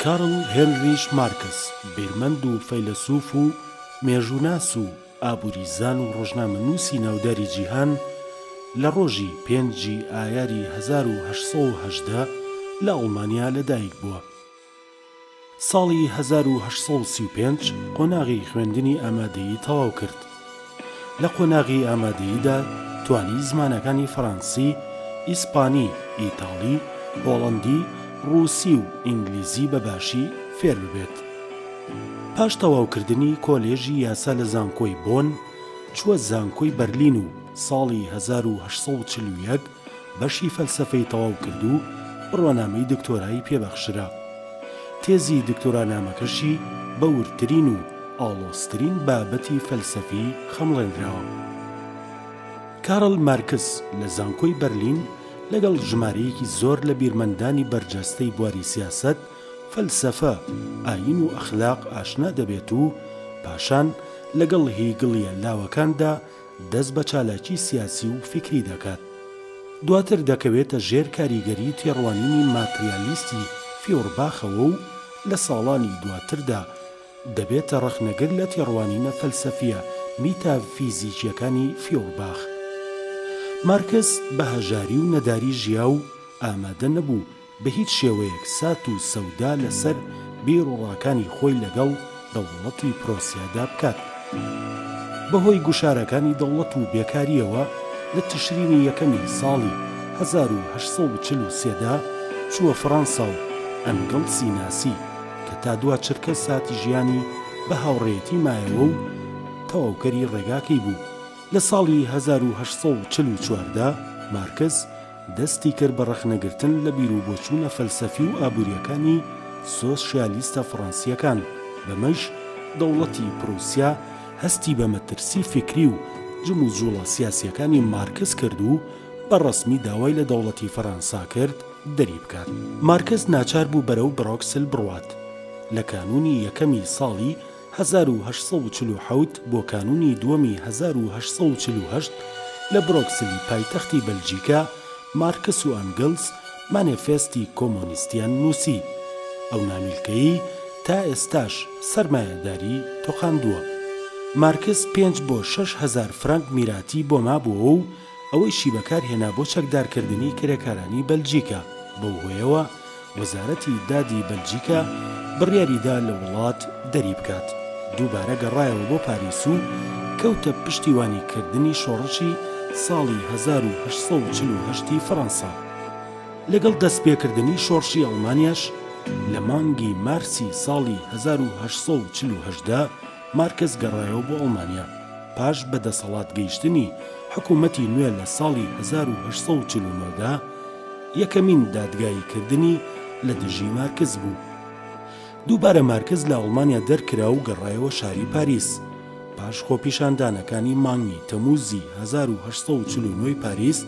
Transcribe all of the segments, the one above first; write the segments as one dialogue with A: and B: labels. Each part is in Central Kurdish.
A: کارل هێنریش مارکس، بیرمەند و فەیلەسوف و مێژووناس و ئابووریزان و ڕۆژنامەنووسی ناوداری جیهان، لە ڕۆژی پێنج ی ئایاری هەزار و هەشت سەد و هەژدە لە ئەڵمانیا لەدایک بووە. ساڵی هەزار و هەشت سەد و سی و پێنج قۆناغی خوێندنی ئامادەیی تەواو کرد. لە قۆناغی ئامادەییدا توانی زمانەکانی فەرەنسی، ئیسپانی، ئیتاڵی، هۆڵەندی، ڕووسی و ئینگلیزی بە باشی فێر ببێت. پاش تەواوکردنی کۆلێژی یاسا لە زانکۆی بۆن، چووە زانکۆی بەرلین و ساڵی هەزار و هەشت سەد و چل و یەک بەشی فەلسەفەی تەواو کرد و بڕوانامەی دکتۆرای پێ بەخشرا. تێزی دکتۆرانامەکەشی بە وردترین و ئاڵۆزترین بابەتی فەلسەفی خەمڵێندراوە. کارل مارکس لە زانکۆی بەرلین لەگەڵ ژمارەیەکی زۆر لە بیرمەندانی بەرجەستەی بواری سیاسەت، فەلسەفە، ئایین و ئەخلاق ئاشنا دەبێت و پاشان لەگەڵ هیگڵیە لاوەکاندا دەست بە چالاکی سیاسی و فیکری دەکات، دواتر دەکەوێتە ژێر کاریگەری تێڕوانینی ماتریالیستی فیۆرباخەوە و لە ساڵانی دواتردا دەبێتە ڕەخنەگر لە تێڕوانینە فەلسەفییە میتافیزیکییەکانی فیۆرباخ. مارکس بە هەژاری و نەداری ژیا و ئامادە نەبوو، بە هیچ شێوەیەک سات و سەودا لەسەر بیر و ڕاکانی خۆی لەگەڵ دەوڵەتی پرۆسیادا بکات. بە هۆی گوشارەکانی دەوڵەت و بێکارییەوە لە تشرینی یەکەمی ساڵی هەزار و هەشت سەد و چل و سێ دا چووە فڕەنسا و ئەنگڵسی ناسی کە تا دوا چرکە ساتی ژیانی بە هاوڕێیەتی مایەوە و تەواوکەری ڕێگاکەی بوو. لە ساڵی هەزار و هەشت سەد و چل و چوار دا مارکس، دەستی کرد بە ڕەخنەگرتن لە بیروبۆچوونە فەلسەفی و ئابوورییەکانی سۆسیالیستە فڕەنسییەکان، بەمەش دەوڵەتی پروسیا هەستی بە مەترسی فیکری و جموجوڵە سیاسییەکانی مارکس کرد و بە ڕەسمی داوای لە دەوڵەتی فەرەنسا کرد دەری بکات. مارکس ناچار بوو بەرەو برۆکسل بڕوات، لە کانوونی یەکەمی ساڵی. هەزار و هەشت سەد و چل و حەوت بۆ کانوونی دووەمی هەزار و هەشت سەد و چل و هەشت لە برۆکسلی پایتەختی بەلجیکا، مارکس و ئەنگلس مانێفێستی کۆمۆنیستیان نووسی. ئەو نامیلکەیەی تا ئێستاش سەرمایەداری تۆقاندووە. مارکس پێنج بۆ شەش هەزار فرەنک میراتی بۆ مابووەوە و، ئەوەیشی بەکارهێنا بۆ چەکدارکردنی کرێکارانی بەلجیکا، بەو هۆیەوە وەزارەتی دادی بەلجیکا بڕیاریدا لە وڵات دەریبکات، دووبارە گەڕایەوە بۆ پاریس و کەوتە پشتیوانیکردنی شۆڕشی ساڵی هەزار و هەشت سەد و چل و هەشت ی فەڕەنسا، لەگەڵ دەستپێکردنی شۆڕشی ئەڵمانیاش لە مانگی مارسی ساڵی هەزار و هەشت سەد و چل و هەشت دا، مارکس گەڕایەوە بۆ ئەڵمانیا پاش بە دەسەڵات گەیشتنی حکوومەتی نوێ لە ساڵی هەزار و هەشت سەد و چل و نۆ دا، یەکەمین دادگایی کردنی لە دژی مارکس بوو. دووبارە مارکس لە ئەڵمانیا دەرکرا و گەڕایەوە شاری پاریس. پاش خۆپیشاندانەکانی مانگی تەمووزی هەزار و هەشت سەد و چل و نۆ ی پاریس،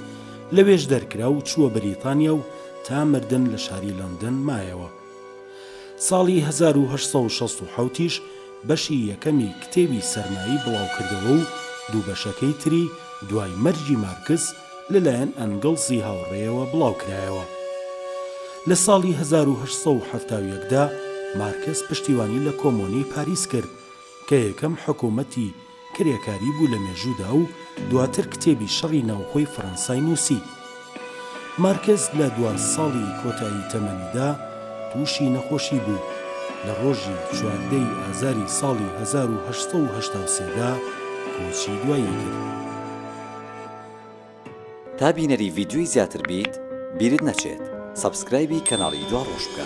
A: لەوێش دەرکرا و چووە بەریتانیا و تا مردن لە شاری لەندەن مایەوە. ساڵی هەزار و هەشت سەد و شەست و حەوت یش بەشی یەکەمی کتێبی سەرمایی بڵاوکردەوە و دوو بەشەکەی تری دوای مەرگی مارکس لەلایەن ئەنگڵسی هاوڕێیەوە بڵاوکرایەوە. لە ساڵی هەزار و هەشت سەد و حەفتا و یەک دا مارکس پشتیوانی لە کۆمۆنەی پاریس کرد کە یەکەم حکوومەتی کرێکاری بوو لە مێژوودا و دواتر کتێبی شەڕی ناوخۆی فەرەنسای نووسی. مارکس لە دوا ساڵی کۆتایی تەمەنیدا تووشی نەخۆشی بوو، لە ڕۆژی چواردە ی ئازاری ساڵی هەزار و هەشت سەد و هەشتا و سێ دا کۆچی دوایی کرد.
B: تا بینەری ڤیدیۆی زیاتر بیت بیرت نەچێت سەبسکرایبی کەناڵی دواڕۆژ بکە.